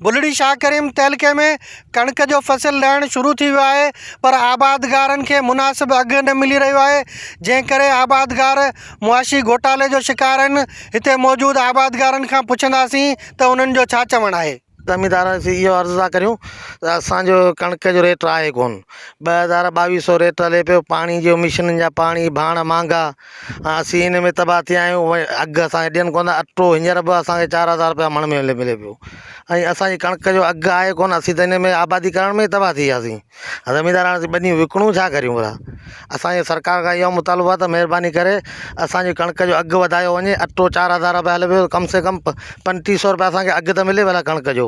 بلڙي شاهه ڪريم تعلقي ۾ ڪڻڪ جو فصل لهڻ شروع ٿي ويو آهي پر آبادگارن کي مناسب اگهه نه ملي رهيو آهي جنهن ڪري آبادگار معاشي گهوٽالي جو شڪار آهن هتي موجود آبادگارن کان پڇنداسين ته انهن جو ڇا چوڻ آهي. زميندار سي اهو عرض ٿا ڪريون ته اسان جو ڪڻڪ جو ريٽ آهي ڪون ٻه هزار ٻاويهه سئو ريٽ هلي پيو پاڻي جو مشينن جا پاڻي ڀاڻ مهانگا ۽ اسين ان ۾ تباهه ٿيا آهيون ۽ اگهه اسان کي ڏين ڪونه ٿا اٽو هينئر به اسان کي چار هزار رپيا مڻ ۾ ملي پيو ۽ اسانجي ڪڻڪ جو اگهه آهي ڪونه اسين ته ان ۾ آبادي ڪرڻ ۾ تباهه ٿي وياسين زميندار هاڻي اسين ٻنيون وڪڻون ڇا ڪريون ڀلا اسانجي سرڪار کان اهو مطالبو آهي ته مهرباني ڪري اسانجي ڪڻڪ جو اگهه وڌايو وڃي اٽو چار هزار رپيا هلي پيو ڪم سي ڪم پنٽيهه سو رپيا اسانکي اگهه ته ملي ڀلا ڪڻڪ جو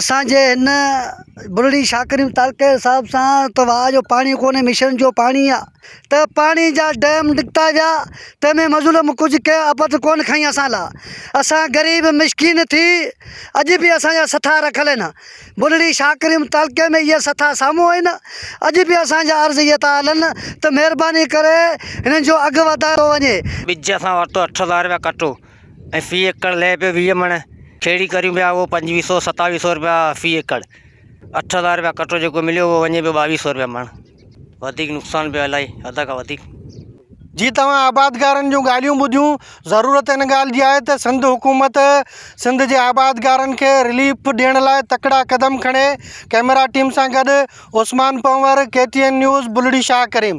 اسان جي هن بلڙي شاڪرين تعلقي جي حساب سان ته واء جو پاڻي ڪونهي مشن جو پاڻي آ ته پاڻي جا ڊيم نڪتا ويا تنهن ۾ مظلوم ڪجهه ڪنهن اپت ڪونه کئين اسان لا اسان غريب مسڪين ٿي اڄ به اسان جا سٿا رکيل آهن بلڙي شاڪرين تعلقي ۾ اهي سٿا سامهون آهن اڄ به اسان جا عرض اهي ٿا هلن ته مهرباني ڪري هنن جو اگهه وڌايو وڃي. ٻج اسان ورتو اٺ هزار رپيا ڪٽو. ۽ في ايڪڙ لئه پيو ويهه مڻ، کهڙي ڪريون پيا اهو پنجويهه سؤ ستاويهه سؤ رپيا في ايڪڙ، اٺ هزار رپيا ڪٽو جيڪو مليو اهو وڃي پيو ٻاويهه سؤ رپيا مڻ، وڌيڪ نقصان پيو الائي حد کان وڌيڪ. جي توهان آبادگارن جون ڳالهيون ٻڌيون، ضرورت ان ڳالهه جي آهي ته سنڌ حڪومت سنڌ جي آبادگارن کي رليف ڏيڻ لاء تڪڙا قدم کڻي، ڪئميرا ٽيم سان گڏ Usman Panwar, K T N news, Bulri Shah ڪريم.